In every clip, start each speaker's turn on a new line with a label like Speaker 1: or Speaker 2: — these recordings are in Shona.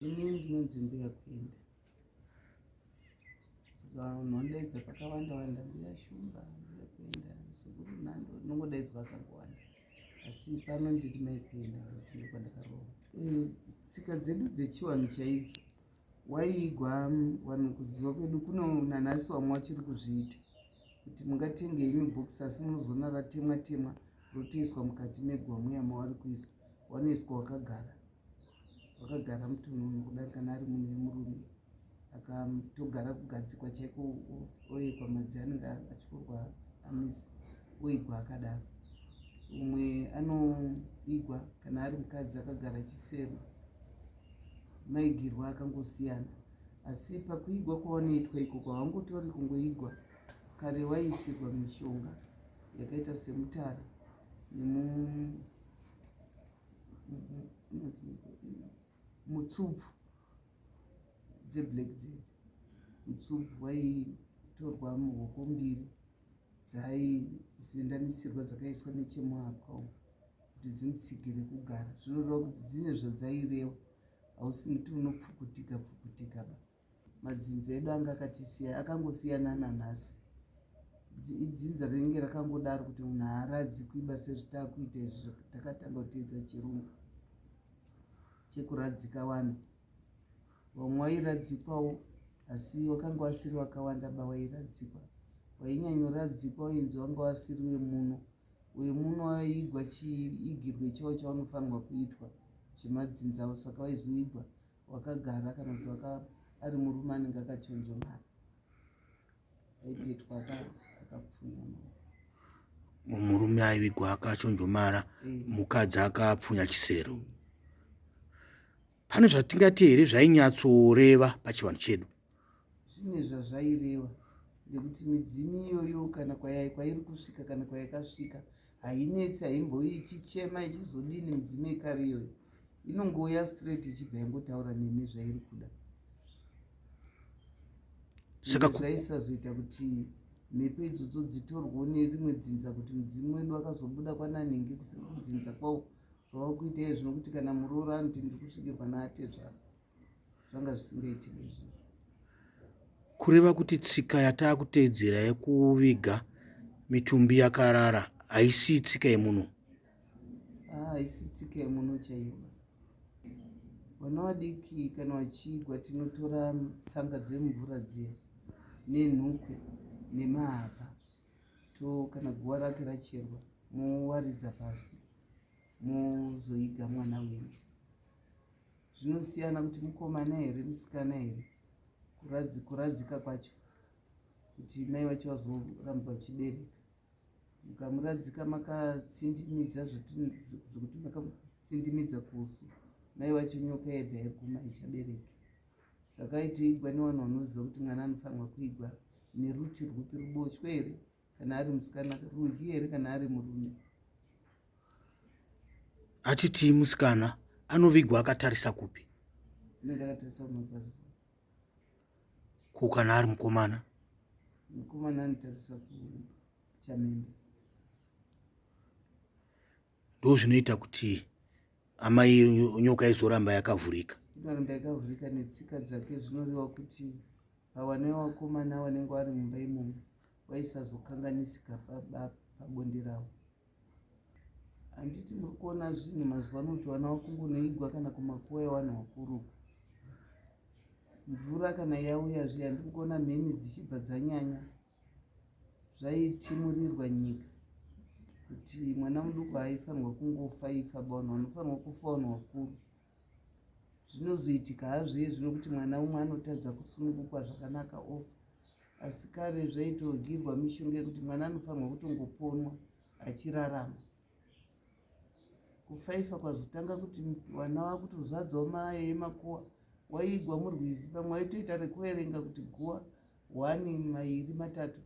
Speaker 1: ini ndinonzi mbuya kuenda saka unondaidza pakawanda wanda mbuya shumba mbuya kuenda sekuru nhando unongodaidzwa akangowanda asi pano nditi mai kuenda ndokuti ndokwandakarowa eh, tsika dzedu dzechiwanhu chaidzo waiigwa vanhu kuziva kwedu kuno nanhasi wamwe wachiri kuzviita kuti mungatenge imi bhokisi asi munozoona ratemwa temwa rotoiswa mukati megwamu yamavari kuiswa wanoiswa wakagara wakagara mutununu kudari kana ari munhu wemurume akatogara kugadzikwa chaiko oekwa mabvi anenge achikorwa amiswa oigwa akadaro umwe anoigwa kana ari mukadzi akagara chisema maigirwa akangosiyana asi pakuigwa kwawanoitwa iko kwawangotori kungoigwa kare waiisirwa mishonga yakaita semutara nemu mutsubvu dzeblack dzedzi mutsubvu waitorwa muhoko mbiri dzaizendamisirwa dzakaiswa nechemuhapwa umu kuti dzimutsigire kugara zvinoreva kuti dzine zvadzaireva hausi muti unopfukutika pfukutika ba madzinza edu anga akatisiya akangosiyana nanhasi idzinza rinenge rakangodaro kuti munhu haaradzi kuiba sezvitakuita izvi takatanga kuteedza chirungu chekuradzika vanhu vamwe wairadzikwawo asi wakanga wasiri wakawanda ba wairadzikwa wainyanyoradzikwa wainzi wanga wasiri wemuno wemuno waigwa chiigirwe chavo chaunofanirwa kuitwa chemadzindzawo saka waizoigwa wakagara kana kuti waka ari murume anenge akachenjemara aibetwa akapfunya
Speaker 2: murume aivigwa akachonjomara eh. mukadzi akapfunya chisero eh. pane zvatingati here zvainyatsoreva pachivanhu chedu zvine
Speaker 1: zvazvaireva nekuti midzimu iyoyo kana kwayai kwairi kusvika kana kwayakasvika hainetsi haimboi ichichema ichizodini midzimu yekare iyoyo inongouya straight ichibva yangotaura nemi zvairi kuda saka zvaisazoita kuti mhepo idzodzo dzitorwo nerimwe dzinza kuti mudzimu wedu wakazobuda kwananhingi kusina kudzinza kwawo zvava kuita izvi zvinokuti kana muroora anoti ndiri kusvike pana atezvara zvanga zvisingaiti bezvo
Speaker 2: kureva kuti tsika yatakuteedzera yekuviga mitumbi yakarara haisi tsika yemuno ah,
Speaker 1: haisi tsika yemuno chaiyo vana vadiki kana vachigwa tinotora tsanga dzemvura dziya nenhukwe nemahapa to kana guva rake racherwa mowaridza pasi mozoiga mwana wenyu zvinosiyana kuti mukomana here musikana here kuradzika kwacho kuti mai vacho vazoramba vachibereka mukamuradzika makatsindimidza zvekuti makatsindimidza kusu mai vacho nyoka yebva yaguma ichabereki saka itoigwa nevanhu vanoziva kuti mwana anofanirwa kuigwa neruti rwupi ruboshwe here kana ari musikana ruhi here kana ari murume
Speaker 2: atitii musikana anovigwa akatarisa kupi anenge akatarisa
Speaker 1: kumapazi ko
Speaker 2: kana ari mukomana mukomana
Speaker 1: anotarisa kuchamembe
Speaker 2: ndozvinoita kuti amai nyoka izoramba yakavhurika inoramba yakavhurika
Speaker 1: netsika dzake zvinoreva kuti pawane vakomana vanenge vari mumba imomo vaisazokanganisika pabonde ravo handiti muri kuona zvinhu mazuva ano kuti vana vakungonoigwa kana kumakuva evanhu vakuru mvura kana yauya zviya ndiri kuona mheni dzichibva dzanyanya zvaitimurirwa nyika kuti mwana muduku haifanirwa kungofa ifa baunhu vanofanirwa kufa vanhu vakuru zvinozoitika hazviye zvino kuti mwana umwe anotadza kusunungukwa zvakanaka ofa asi kare zvaitogirwa mishonga yekuti mwana anofanirwa kutongoponwa achirarama kufaifa kwazotanga kuti vana vakutozadzawo maye emakuwa waiigwa murwizi pamwe waitoita rekuverenga kuti guwa one mairi matatu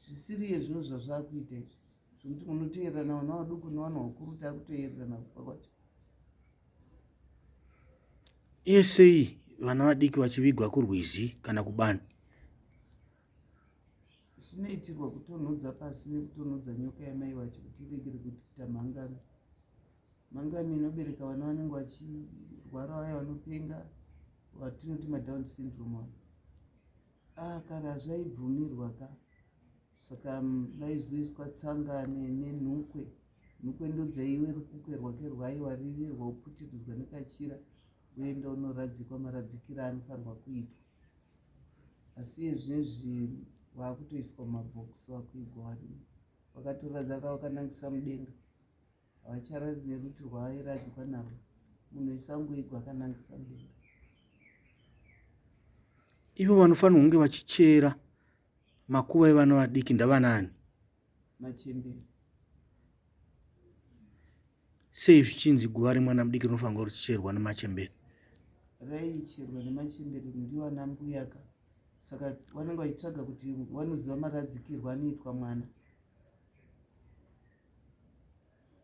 Speaker 1: zvisiri iye zvinhu zvazvakuita izvi zvekuti munoteererana vana vaduku nevana vakuru takutoererana kufa kwacho
Speaker 2: iye sei vana vadiki vachivigwa kurwizi kana kubani
Speaker 1: zvinoitirwa kutonhodza pasi nekutonhodza nyoka yamai wacho kuti iregere kuti kuita mhangano mhangano inobereka vana vanenge vachirwara vaya vanopenga vatinoti madown syndrome avo ah kana zvaibvumirwa ka saka vaizoiswa tsanga nenhukwe nhukwe ndodzaiwe rukukwe rwake rwaiwaririrwa uputiridzwa nekachira uenda unoradzikwa maradzikira anofanirwa kuitwa asi izvezvi vakutoiswa mabhokisi vakuigwa vari vakatoradza kavakanangisa mudenga havacharari neruti rwavairadzikwa narwo munhu isangoigwa akanangisa mudenga
Speaker 2: ivo vanofanira kunge vachichera makuva evana vadiki ndavanaani
Speaker 1: machembere
Speaker 2: sei zvichinzi guva remwana mudiki rinofanirwa richicherwa nemachembere raicherwa
Speaker 1: nemachembere ndiwo ana mbuyaka saka vanenge vachitsvaga kuti vanoziva maradzikirwo anoitwa mwana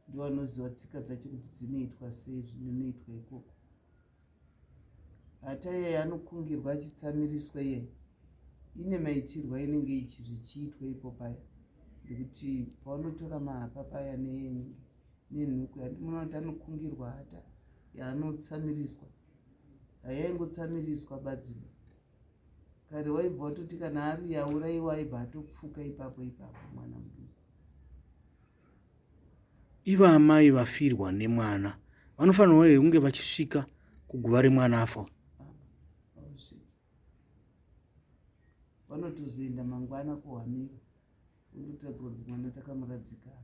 Speaker 1: ndovanoziva tsika dzacho kuti dzinoitwa sei zvinonoitwa ikoko hata yeye anokungirwa achitsamiriswa yeye ine maitirwa inenge zvichiitwa ipo paya ndekuti pavanotora mahapa paya neenenge nenhuku yandimoona kuti anokungirwa hata yaanotsamiriswa hayaingotsamiriswa badzino kare waibva watoti kana ari yauraiwa aibva atopfuka ipapo ipapo mwana muduku
Speaker 2: Ivo amai vafirwa nemwana vanofanirwa here kunge vachisvika kuguva remwana afa
Speaker 1: vanotozoenda mangwana kuhamira vondotadzwa kuti mwana takamuradzikana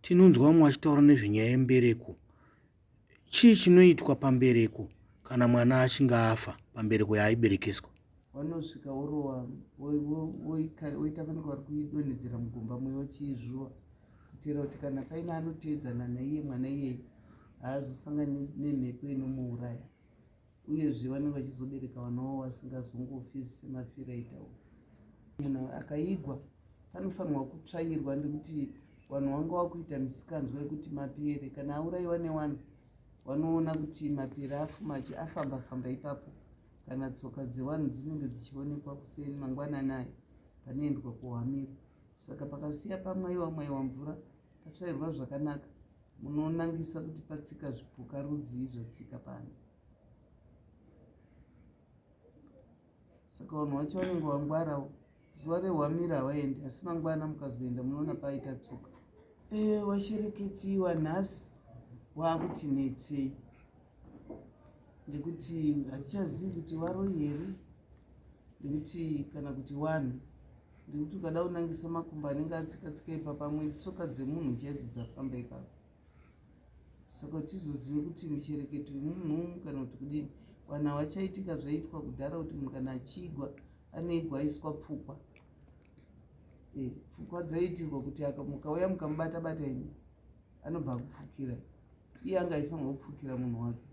Speaker 2: tinonzwa vamwe vachitaura nezvenyaya yembereko Chii chinoitwa pambereko kana mwana achinge afa pambereko yaaiberekeswa? Vanosvika
Speaker 1: vorova voita vanenge vari kuidonhedzera mugomba mwe vachiizvuva kuitira kuti kana paine anoteedzana naiye mwana iyeye haazosangani nemhepo inomuuraya. uyezve vanenge vachizobereka vana wavo vasingazongofi semafiro aita u munhu akaigwa panofanirwa kutsvairwa nekuti vanhu vanga vakuita misikanzwa yekuti mapere kana auraiwa newanhu vanoona kuti mapere afumachi afamba famba ipapo kana tsoka dzewanhu dzinenge dzichionekwa kuseni mangwananayo panoendwa kuhwamiro saka pakasiya pamwaiwa mwaiwa mvura Patsvairwa zvakanaka munonangisa kuti patsika zvipuka rudzii zvatsika pano. Saka vanhu vacho vanenge wangwarawo zuva rehwamira havaendi asi mangwana mukazoenda munoona paita tsoka. Ee eh, washereketiwa nhasi waakuti netsei nekuti hatichazivi kuti varoyi here nekuti kana kuti wanhu nekuti ukada kunangisa makumbo anenge atsikatsika ipapa amwe tsoka dzemunhu chaidzo dzafamba ipapa saka tizozive kuti michereketo yemunhumu kana kuti kudini vanhu havachaitika zvaitwa kudhara kuti munhu kana achiigwa aneigwa aiswa pfukwa e, pfukwa dzaiitirwa kuti mukauya mukamubata bata ini anobva akupfukira iye anga aifanirwa kupfukira munhu wake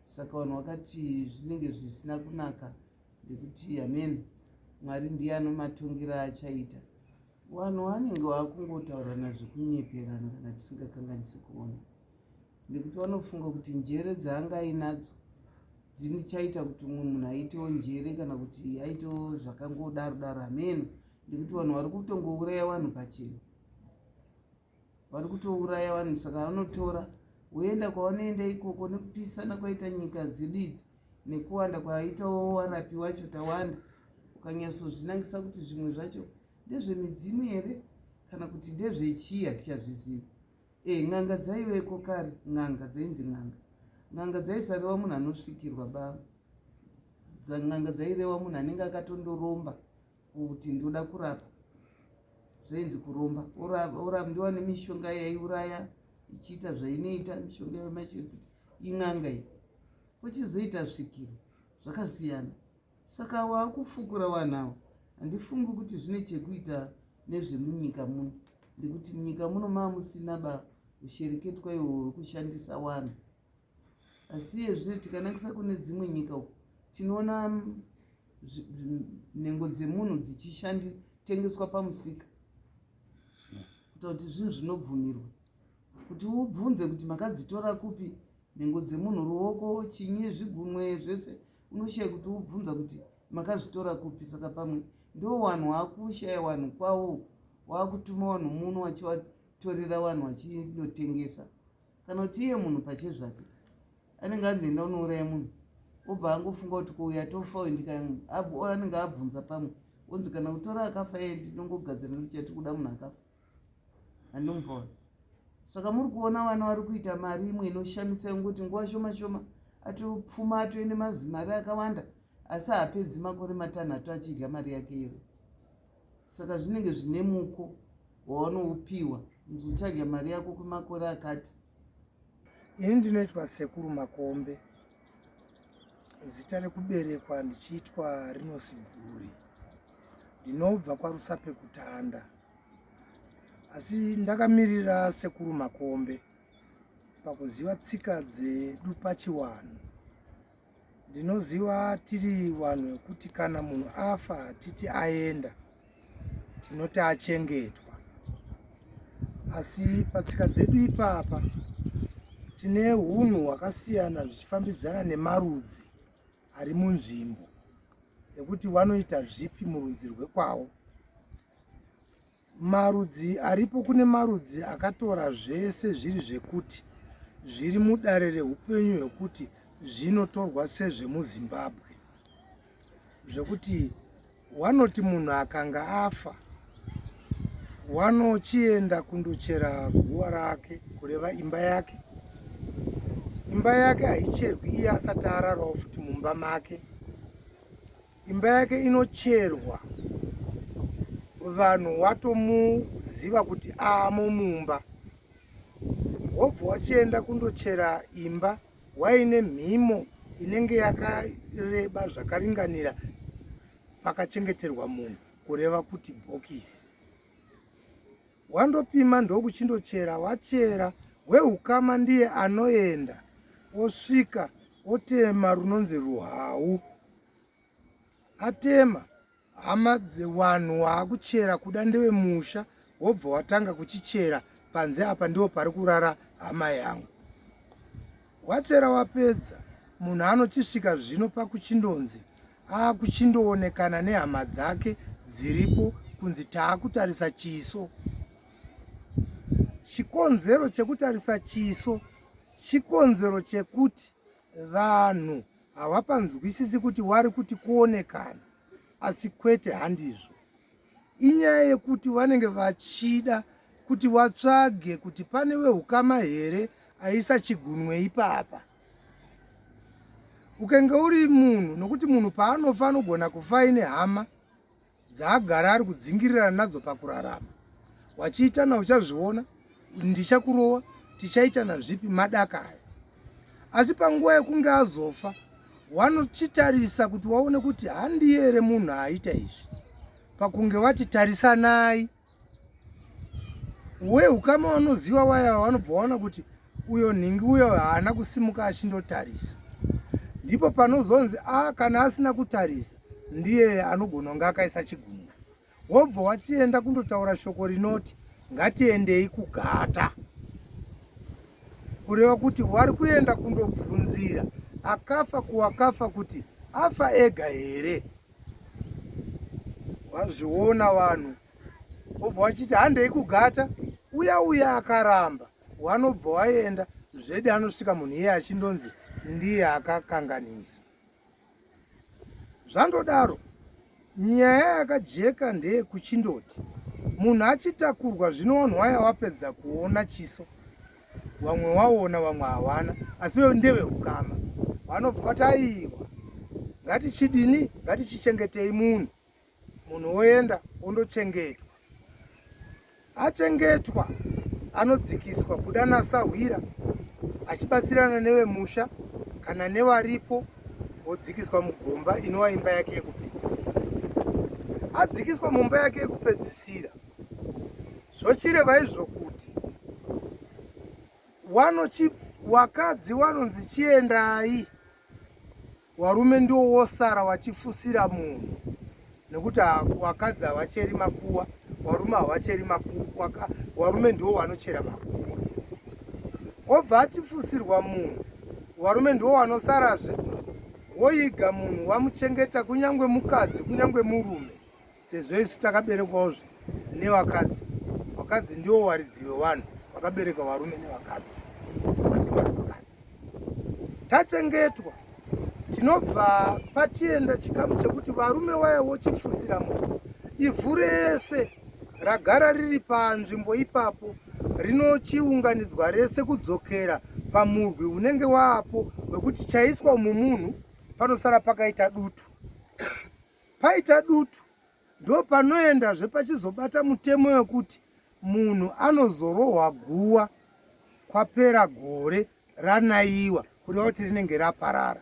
Speaker 1: saka vanhu vakati zvinenge zvisina kunaka ndikuti amen mwari ndiye anomatongira achaita vanhu vanenge vakungotaurirana zvekunyeperana kana tisingakanganisi kuona ndekuti vanofunga kuti njere dzaanga ainadzo dzinichaita kuti umwe munhu aitewo njere kana kuti aitewo zvakangodaro daro ameno ndekuti vanhu vari kutongouraya vanhu pachena vari kutouraya vanhu saka vanotora woenda kwavanoenda ikoko nekupisana kwaita nyika dzedu idzi nekuwanda kwaitawo warapi wacho tawanda ukanyatsozvinangisa kuti zvimwe zvacho ndezvemidzimu here kana kuti ndezvechii hatichazvizivi e eh, n'anga dzaiveko kare n'anga dzainzi n'anga n'anga dzaisareva munhu anosvikirwa baa n'anga dzaireva munhu anenge akatondoromba kuti ndoda kurapa zvainzi kuromba orambiwa nemishonga yaiuraya ichiita zvainoita mishonga yamachiri kuti in'anga iyi kuchizoita svikiro zvakasiyana saka waakufukura vanhu avo handifungi kuti zvine chekuita nezvemunyika muno nekuti munyika muno maamusina ba ushereketwa iwo wekushandisa wanhu asi iye zvino tikanakisa kune dzimwe nyika uku tinoona nhengo dzemunhu dzichishanditengeswa pamusika kuita kuti zvinhu zvinobvumirwa kuti ubvunze kuti makadzitora kupi nhengo dzemunhu ruoko chinyi zvigunwe zvese unoshiya kuti ubvunza kuti makazvitora kupi saka pamwe ndo wanhu waakushaya wanhu kwawo waakutuma wanhu muno wachivatorera wanhu wachinotengesa kana kuti iye munhu pache zvake anenge anzi enda unouraya munhu obva angofunga kuti kuuya tofa wendika yangu anenge abvunza pamwe onzi kana kutora akafa iye ndinongogadzira ndichati kuda munhu akafa handimupaona saka muri kuona vana vari kuita mari imwe inoshamisa yonguti nguva shoma shoma atopfuma atoende mazimari akawanda asi haapedzi makore matanhatu achidya mari yake iyoyo saka zvinenge zvine muko wawanoupiwa nzi uchadya mari yako kwemakore akati
Speaker 3: ini ndinoitwa sekuru makombe zita rekuberekwa ndichiitwa rinosiguri ndinobva kwarusape kutanda asi ndakamirira sekuru makombe pakuziva tsika dzedu pachiwanhu Ndinoziva tiri vanhu vekuti kana munhu afa hatiti aenda, tinoti achengetwa. Asi patsika dzedu ipapa tine hunhu hwakasiyana zvichifambidzana nemarudzi ari munzvimbo ekuti vanoita zvipi murudzi rwekwavo. Marudzi aripo kune marudzi akatora zvese zviri zvekuti zviri mudare reupenyu hwekuti zvinotorwa sezvemuzimbabwe zvekuti wanoti munhu akanga afa wanochienda kundochera guva rake kureva imba yake imba yake haicherwi iye asati ararawo futi mumba make imba yake inocherwa vanhu watomuziva kuti amo mumba wobva wachienda kundochera imba waine mhimo inenge yakareba zvakaringanira pakachengeterwa munhu kureva kuti bhokisi wandopima ndokuchindochera wachera weukama ndiye anoenda osvika otema runonzi ruhau atema hama dzewanhu waakuchera kuda ndewe musha wobva watanga kuchichera panze apa ndiwo pari kurara hama yangu wachera wapedza munhu anochisvika zvino pakuchindonzi aakuchindoonekana nehama dzake dziripo kunzi taakutarisa chiso chikonzero chekutarisa chiso chikonzero chekuti vanhu hawapanzwisisi kuti wari kuti kuonekana asi kwete handizvo inyaya yekuti vanenge vachida kuti watsvage kuti pane weukama here aisa chigunwe ipapa ukenge uri munhu nokuti munhu paanofa anogona kufa ine hama dzaagara ari kudzingirirana nadzo pakurarama wachiitana uchazviona ndichakurova tichaitana zvipi madaka aya asi panguva yekunge azofa wanochitarisa kuti waone kuti handiye here munhu aita izvi pakunge vati tarisanai we ukama wanoziva waya wanobva waona kuti uyo nhingi uyo haana kusimuka achindotarisa ndipo panozonzi a ah, kana asina kutarisa ndiye anogona kunge akaisa chigunwe wobva wachienda kundotaura shoko rinoti ngatiendei kugata kureva kuti wari kuenda kundobvunzira akafa kuwakafa kuti afa ega here wazviona vanhu obva wachiti handei kugata uya uya akaramba wanobva waenda zvedi anosvika munhu iye achindonzi ndiye akakanganisa zvandodaro nyaya yakajeka ndeye kuchindoti munhu achitakurwa zvino wanhu waya wapedza kuona chiso vamwe waona vamwe hawana asi veyo ndevehukama vanobva vati aiwa ngatichidini ngatichichengetei munhu munhu woenda wondochengetwa achengetwa anodzikiswa kuda nasahwira achibatsirana nevemusha kana nevaripo wodzikiswa mugomba inova imba yake yekupedzisira adzikiswa mumba yake yekupedzisira zvochireva izvo kuti wanochi wakadzi wanonzi chiendai warume ndiwo wosara wachifusira munhu nekuti wakadzi havacheri makuwa warume havacheri makuwa warume ndiwo wanochera makuwa obva achifusirwa munhu warume ndiwo wanosarazve woiga munhu wamuchengeta kunyange mukadzi kunyange murume sezvo isu takaberekwawo zve nevakadzi vakadzi ndiwo waridzi wevanhu vakabereka varume nevakadzi masikwa nevakadzi tachengetwa tinobva pachienda chikamu chekuti varume waya wochifusira munhu ivhu rese ragara riri panzvimbo ipapo rinochiunganidzwa rese kudzokera pamurwi unenge waapo wekuti chaiswa mumunhu panosara pakaita dutu Paita dutu ndopanoendazve pachizobata mutemo wekuti munhu anozorohwa guwa kwapera gore ranaiwa kureva kuti rinenge raparara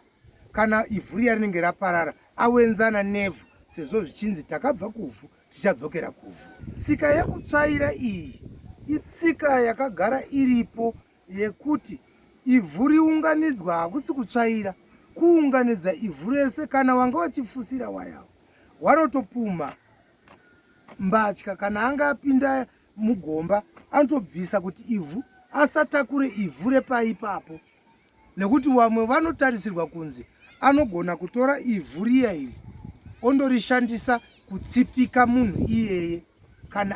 Speaker 3: kana ivhu riya rinenge raparara awenzana nevhu sezvo zvichinzi takabva kuvhu tichadzokera kuvhu tsika yekutsvaira iyi itsika yakagara iripo yekuti ivhu riunganidzwa hakusi kutsvaira kuunganidza ivhu rese kana wanga wachifusira wayawo wanotopumha mbatya kana anga apinda mugomba anotobvisa kuti ivhu asatakure ivhu repaipapo nekuti vamwe vanotarisirwa kunzi anogona kutora ivhu riya iri ondorishandisa kutsipika munhu iyeye kana